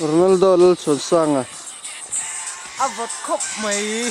Ronaldo lal chhawn sang a. A vawt khawp mai.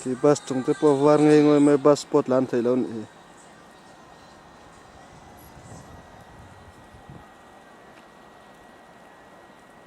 Khi bus chung te pawh var ngei ngei mai bus spot la an theih loh anih hi.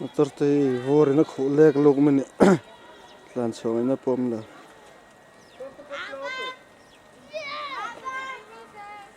motor te hi vaw rin a khuh lek luk mai nih tlan chhuak in a pawm lo.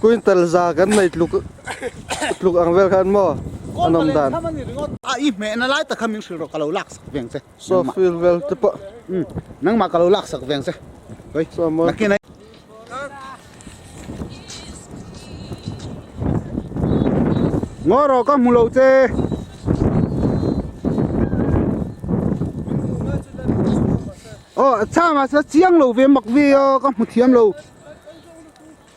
Quintal za kan nei tluk tluk ang vel khan maw a nawm dan. A i hmehna lai tak kha min hrilh rawh ka lo laksak veng che. Saw field vel te pawh. Umm nangmah ka lo laksak veng che Sawi Saw mawi Lucky nai. Ngaw rawh ka hmu lo che. Aw a chhang ah se chiang lo ve mak ve a ka hmu thiam lo.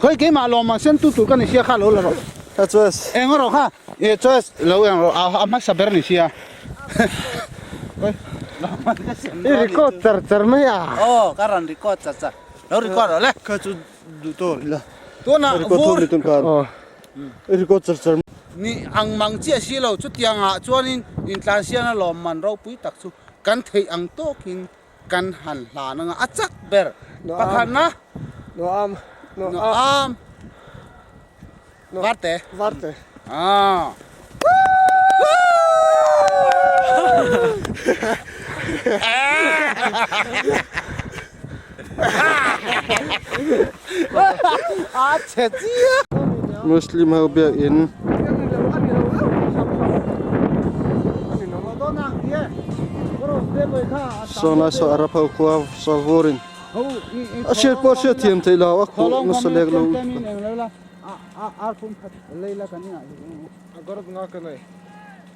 Khawi keimah lawmah siam tu tur ka ni sia kha lo la rawh. A choice. Eng rawh kha. A choice lo eng rawh. A hmasa ber ni sia. Khawi lawmah ka siam tu a ni. I record char char mai a. Aw ka rawn record char char. Lo record rawh le. Kha chu duh tawh a ni la. Tunah vur. Record thung ni tun khan. Aw. I record char char. Ni ang mang chiah si lo. Chutiangah chuanin intlansiana lawm man ropui tak chu kan theih ang tawkin. Kan han hlan anga a chak ber pakhatna Nuam Nuam Varte Varte ah Woo! Muslim ho biak in Sawhnai saw a ra pho khua saw vur in a hriat pawh a hriat thiam theih lo a khuh nasa lek lo u.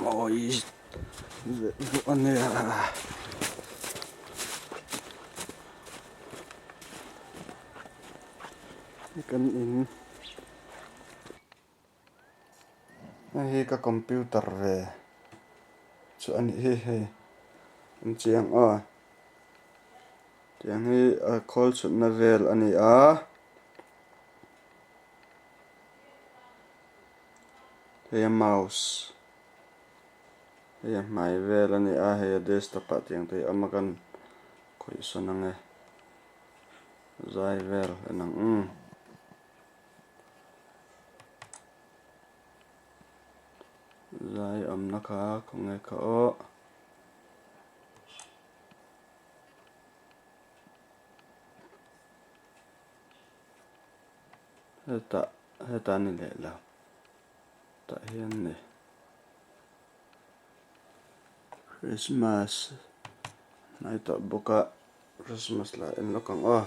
mawi zet duh a nia hei kan in hei hi ka computer ve chu a nih hi hei an chiang a tiang hi khawl chhunna vel a ni a. Hei a mouse hei a hmai vel a ni a, hei a desktop ah tiang te hi awm akan khawihsawn ang e, zai vel an ang em. Zai awmna kha khaw nge kha awh. hetah hetah a ni leh la tah hian a ni Christmas hmai tawh bawk a Christmas lah en lawk ang aw.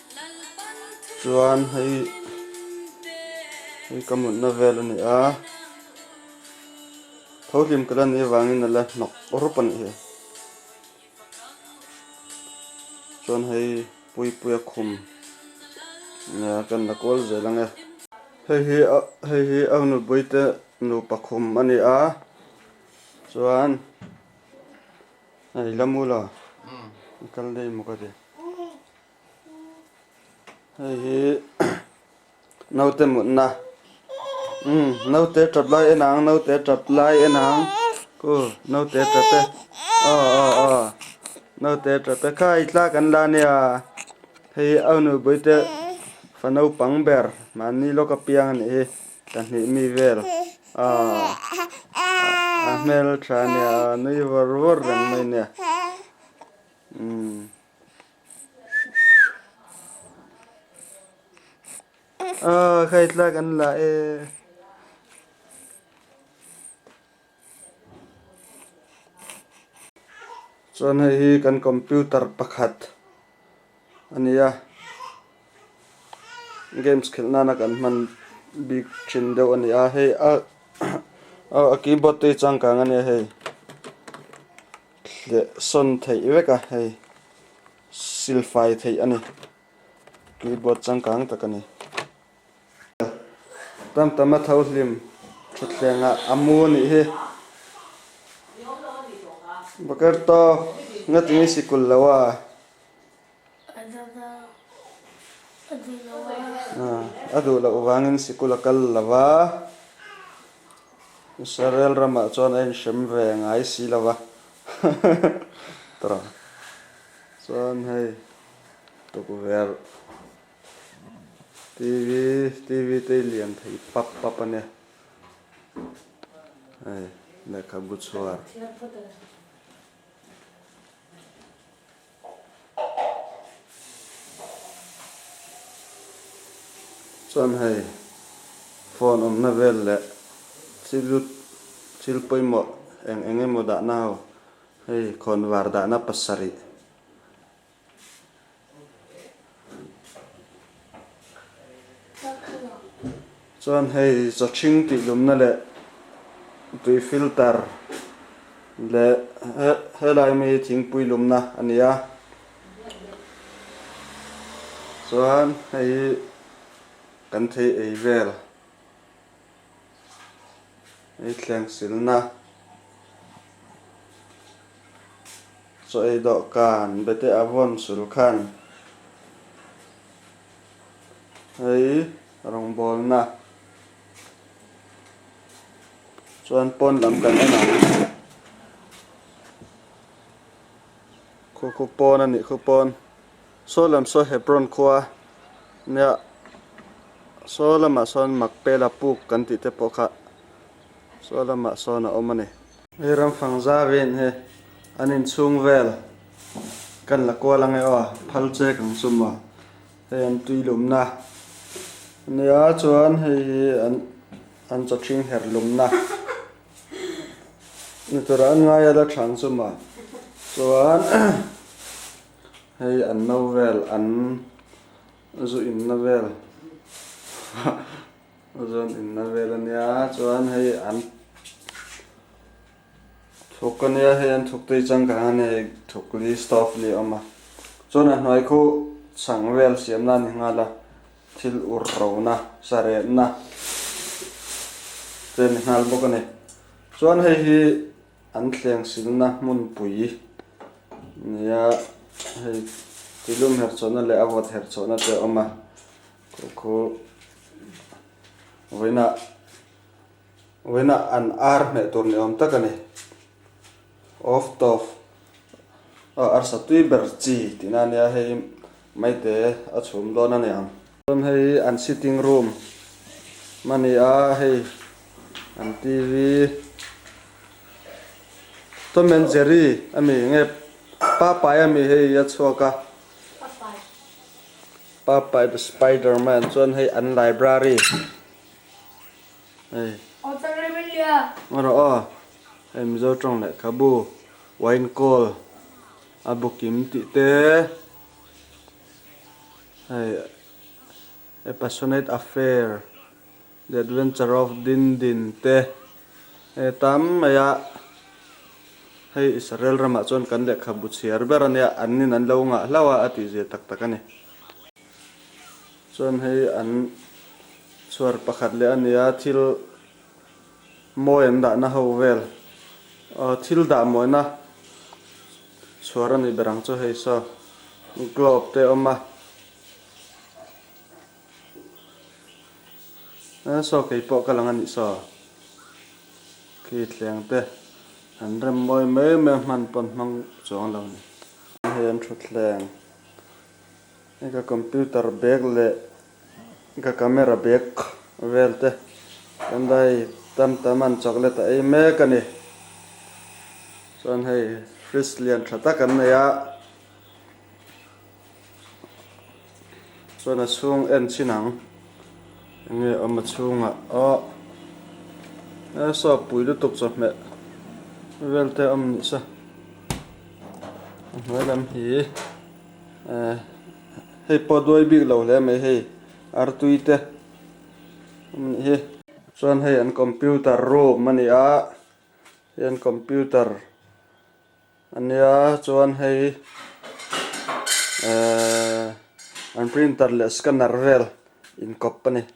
chuan hei hei ka mutna vel a ni a tho hlim ka la ni avangin a la hnawk rup a nih hi chuan hei puipuia khum nia ka in la kual zel ange hei hi a hei hi au nupui te nu pakhum a ni a chuan a la mula kal daih muka ti. hei hi naute mutna umm naute ṭap lai en ang naute ṭap lai en ang u naute ṭap e a a a naute ṭap e khai thla kan la nia hei a nu buaite fa naupang ber mahni lawka piang a nih hi ka hnih mi vel a a hmel ṭha nia a nui vur vur reng mai nia umm. Ahh khai tlak an la e. Chuan hei hi kan computer pakhat a ni a games khelh nana kan hman bik thin deuh a ni a hei a keyboard te i changkang a nia hei. Hleh sawn theih vek a, hei sil fai theih a ni. Keyboard changkang tak a ni. Tam tam a tho hlim thutthlengah a mu a nih hi. Bokerto, ngatin i sikul lo a? A zat a, a duh lo va. A, a duh loh vangin sikul a kal lo va. Israel ramah chuan a inhrem ve a ngai si lo va. Tawh chuan hei tukverh TV, TV te i lian thei pap pap a nia. Hei lehkhabu chhuar. Chuan hei phone awmna vel leh thil lut thil pawimawh eng eng emaw dahna ho hei khawnvar dahna pasarih. Chuan hei Chachhing tihlumna leh tui filter leh helai mi thingpui lumna a ni a. Chuan hei hi kan thei ei vel. Hei thleng silna chu ei dawh kan bete a vawn sul khan hei rawngbawlna chuan pawn lam kan en ang. Khupu pawn a nih khupawn. Saw lam saw Hebron khua nia saw lamah sawn Makpela puk kan tih te pawh kha saw lamah sawn a awm a ni. Hei ram fang zaviain hi an inchhung vel kan la kual ang e aw, phal chek ang chu maw hei an tui lumna a nia chuan hei hi an an chaw chhing her lumna ni tura an ngai a la chhan chu maw chuan hei an no vel an zu inna vel haha zawn inna vel a nia chuan hei an thuk a nia hei an thuk te hi changkang a nia hei thuk li stove li a awm a chuan a hnuai khaw chhang vel siam nan ni nghal a thil ur ro na saretna te ni nghal bawk a ni chuan hei hi-- An thleng silna hmunpui nia hei tilum herhchawhna leh a vawt herhchawhna te a awm a, khawkhaw vawiinah vawiinah an ar hneh tur ni awm tak a ni. Off top arsa tui ber chi tihna ania hei maite a chhum dawn aniang. Chuan hei an sitting room a ni a, hei an TV Tom and Jerry a mi nge Popeye a mi hei a chhuak a, Popeye the Spiderman, chuan hei an library hei a rawh aw, hei Mizo tawng lehkhabu, Wine Call a booking tih te. Hei, A Passionate Affair, The Adventure of Din Din te hei tam maia hei Israel ramah chuan kan lehkhabu chhiar ber a nia, an in an lo ngah hlauh a a tihzia tak tak a ni. Chuan hei an chhuar pakhat leh a nia thil. Mawi an dahna ho vel thil dah mawina chhuar a nih ber ang chu hei saw globe te awm a, aa saw kei pawh ka lang a nih saw khi thleng te an rem mawi mai mai a hman pawn hmang chuang lo ni. Hei an thutthleng i ka computer bag leh Ka camera bag vel te kan dai tam tam an chawk let a ei mek a ni. Chuan hei fridge lian tha tak an nei a, chuan a chhung en chin ang enge awm a chhungah awh he soap pui lutuk chawhmeh vel te awm nihsa a hnuai lam hi. Ehh hei pawh duai bik lo hle mai hei artui te awm nih hi. Chuan hei an computer room a ni a, hei an computer a nia chuan hei ehh an printer leh scanner vel inkawp a ni.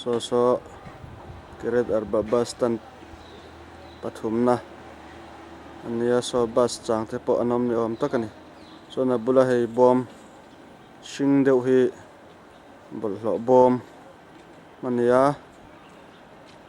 saw saw kiret arba bus stand pathumna a nia saw bus chang te pawh an awm ni awm tak a ni chuan a bula hei bawm hring deuh hi bawlhhlawh bawm a nia.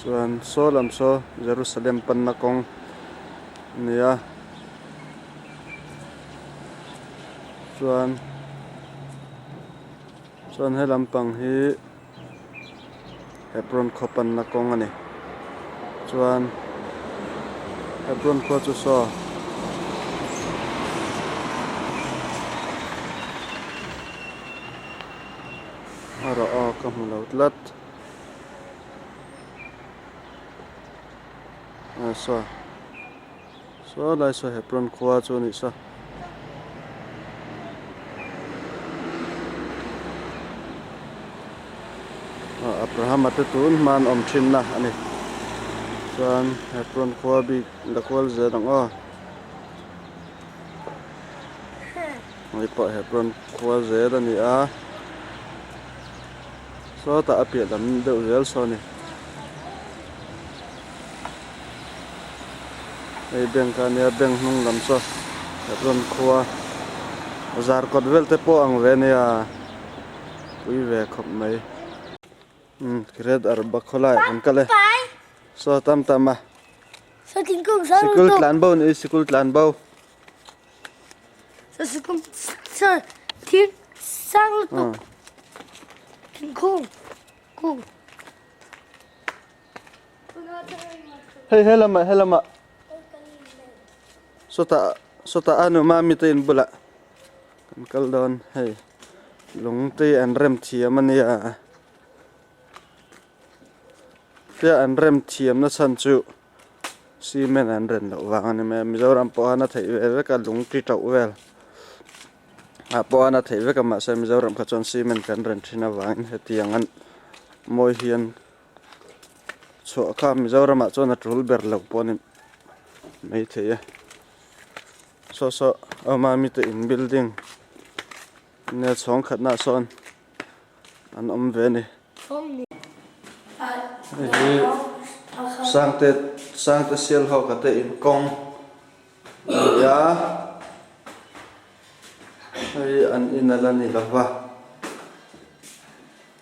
Chuan saw lam saw Jerusalem panna kawng a ni a, chuan chuan he lampang hi. Apron khaw panna kawng a ni. Chuan apron khaw chu saw a rawh aw ka hmu lo tlat. Aw saw. Saw lai saw Hebron khua chu a nih sa. Ah Abrahama te tun hman awm thinna a ni. Chuan Hebron khua bik la kual zet ang aw. Hei pawh Hebron khua zet a ni a. Sawtah a piah dam deuh zel saw a ni. Hei bank a nia bank hnung lam saw ka rawn khua a zar kawt vel te pawh ang ve a nia pui ve khawp mai umm red ar bawk khaw lai kan kal e saw tam tam a sikul tlan bo ni sikul tlan bo thingkung kung. Hei he lama he lama Sota sota anu ma mi te in bula Kan kal don hei Lung te an rem thiam ania Fia an rem thiam na chan chu Cement an ren lo vang ani mai Mizoram pawh a na thei ve vek a lung ti tauh vel ah pawh a na thei vek a mahse Mizoram kha chuan Cement kan ren thin avangin hetiang an mawi hian chhuah kha mizoramah chuan a tul ber lo pawh a ni maithei a saw saw awma mite in building nia chhawng khatnah sawn an awm ve a ni hei hi sangte sangte sial hawka te in kawng a ni a hei hi an inal a ni lova.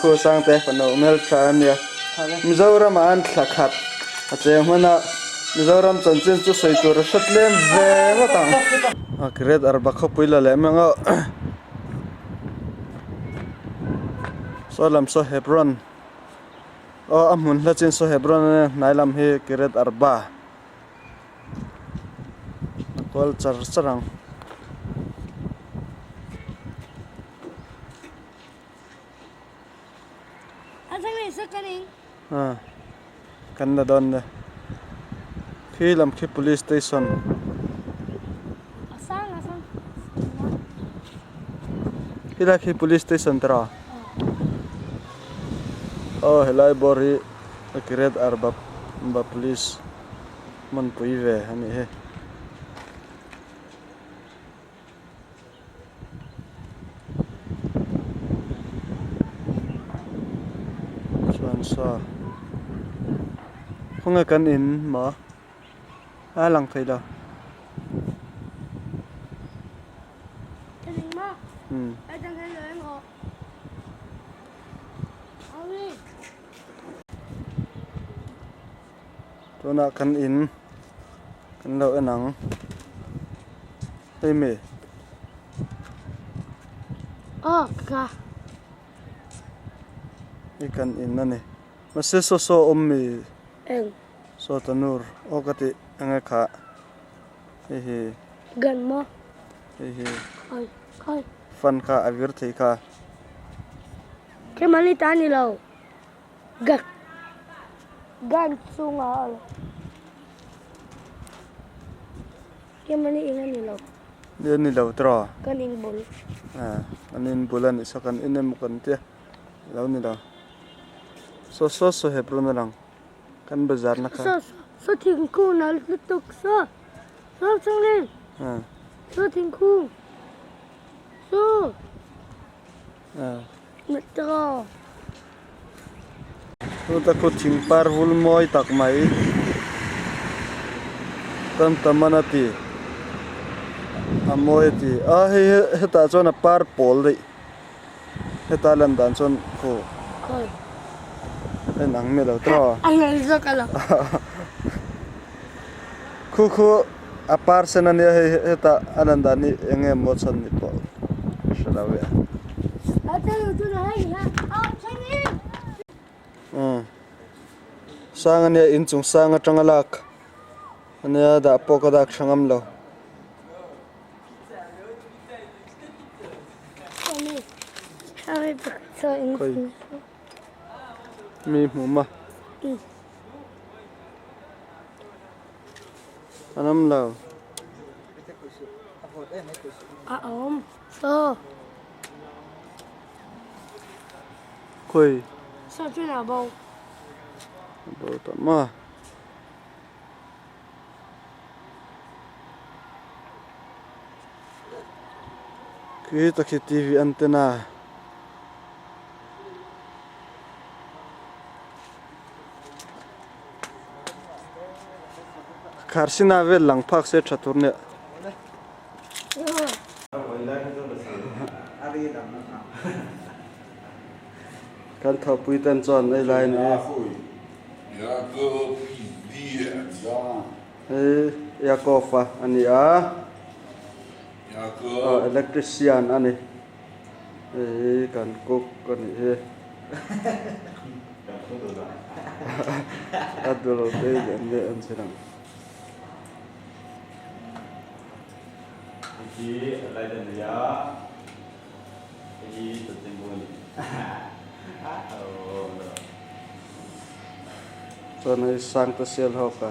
Khusang te ka no hmel tha a nia. Mizoramah an thla khat a cheng hman a, Mizoram chanchin chu sawi tur a hre tlem ve ngawt ang. A kiret ar bak khawpui la leh mang auh. Sawi lam saw Hebron aw a hmun hla chin saw Hebron a nia, hnai lam hi Kiret Arba a kual char char ang. Aa kan la dawn nia khi lam khi police station helai khi police station tara aw helai bawr hi kiret arbap ba police hmun pui ve anih hi. chuan saw khawnge kan in mah a lang thei lo umm Tunah kan in kan lo en ang hemi. Aw ka. Hi kan in a ni. Mase saw saw a awm mi? Eng. Saw ta nur aw ka tih eng e khah. Hei hi. Gan maw? Hei hi. Oi oi. Fan kha a vir thei kha. Khi mali ta a ni lo. Gan chunga a lo kem a ni eng a ni lo. Ni a ni lo tawh a. Kan in bul. Kan in bul a nih saw kan in emaw kan tia a lo ni lo. Saw saw saw hep run a lang kan bazar na kha. Saw saw thingkung nal lutuk saw saw chunglen saw thingkung saw. Chuta kut thing par vul mawi tak mai tam ta man a ti. A mawi a ti. A hei hetah chuan a par pawl daih. Heta lan dan chuan khaw a inang meh lo tawh a. Khu khu. A par sen a nia hei heta a lan dan hi eng nge maw chhan ni pawh ka hre lo le. Umm sang a nia inchung sang atanga lak a nia dah pawh ka dak hre ngam lo. Mi hmuma. An awm lo. A awm lo. Khawi. Saw chuan a bo. A bo tawh maw? Khi hi takhi TV antenna. Kharsina vel lang phak se tha tur nia. Kan thawhpui ten chuan ei lai ni e. Yakov a ni a. Electrician a ni. Hei hi kan cook a nih hi. A dul daih lian leh an chin ang. Chuan hei sangte sial ho ka.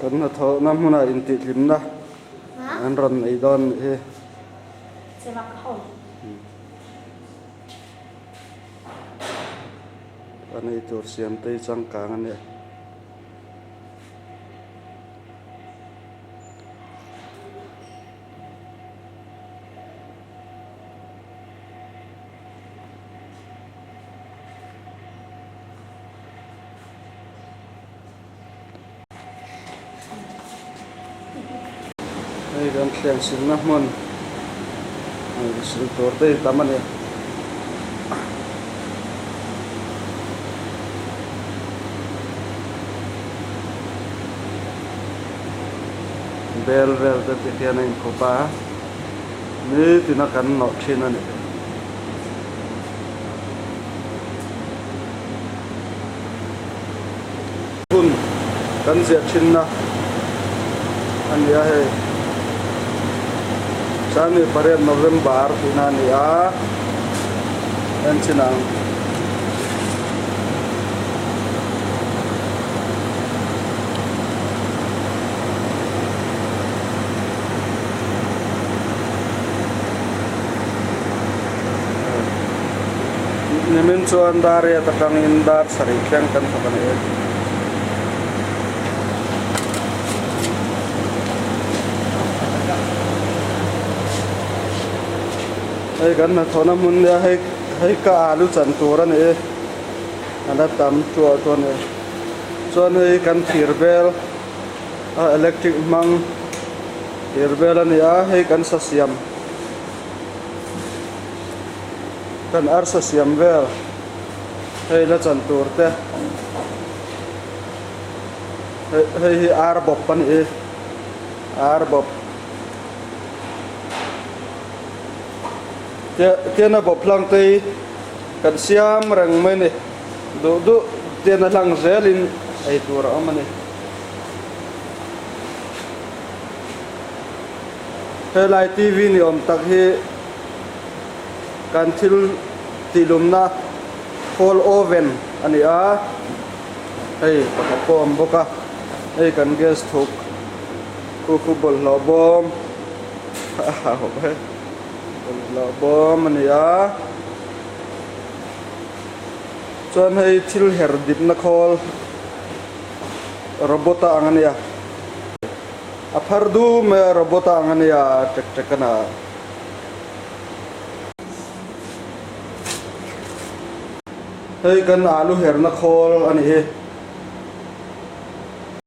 Kan hnathawhna hmuna intihtlimna an rawn nei dawn nih hi. A nei tur siamtei changkang a ni. Hei hian thlen simna hmun sil tur te hi tam a ni. Bel vel te te hian a in khup a, nitin a kan nawh thin a ni. Hun kan ziah thinna a ni a hei. Changni pariat November tihna a ni a, enchin ang. Nimin chuan Dariat atangin dar sarih thleng kan hmu ta ni e. Hei kan hnathawhna hmun nia, hei hei ka alu chan tur a ni e, a la tam tuah tawh a ni. Chuan hei kan thirbel. a electric hmang tir vel a ni a hei kan sa siam kan arsa siam vel hei la chan tur te hei hei hi ar bawp a ni e ar bawp te tena bawp hlang te hi kan siam reng mai a ni duh duh tena hlang zel in ei tur a awm a ni. Helai TV ni awm tak hi kan thil tihlumna khawl oven a ni a, hei pakhat pawh a awm bawk a, hei kan gas chhuk khuhu bawlhhlawh bawm bawlhhlawh bawm a ni a, chuan hei thil her dipna khawl. Robot a ang a nia. A phar dum mai a, robot a ang a nia, ṭek ṭek a na. Hei kan alu herna khawl a nih hi.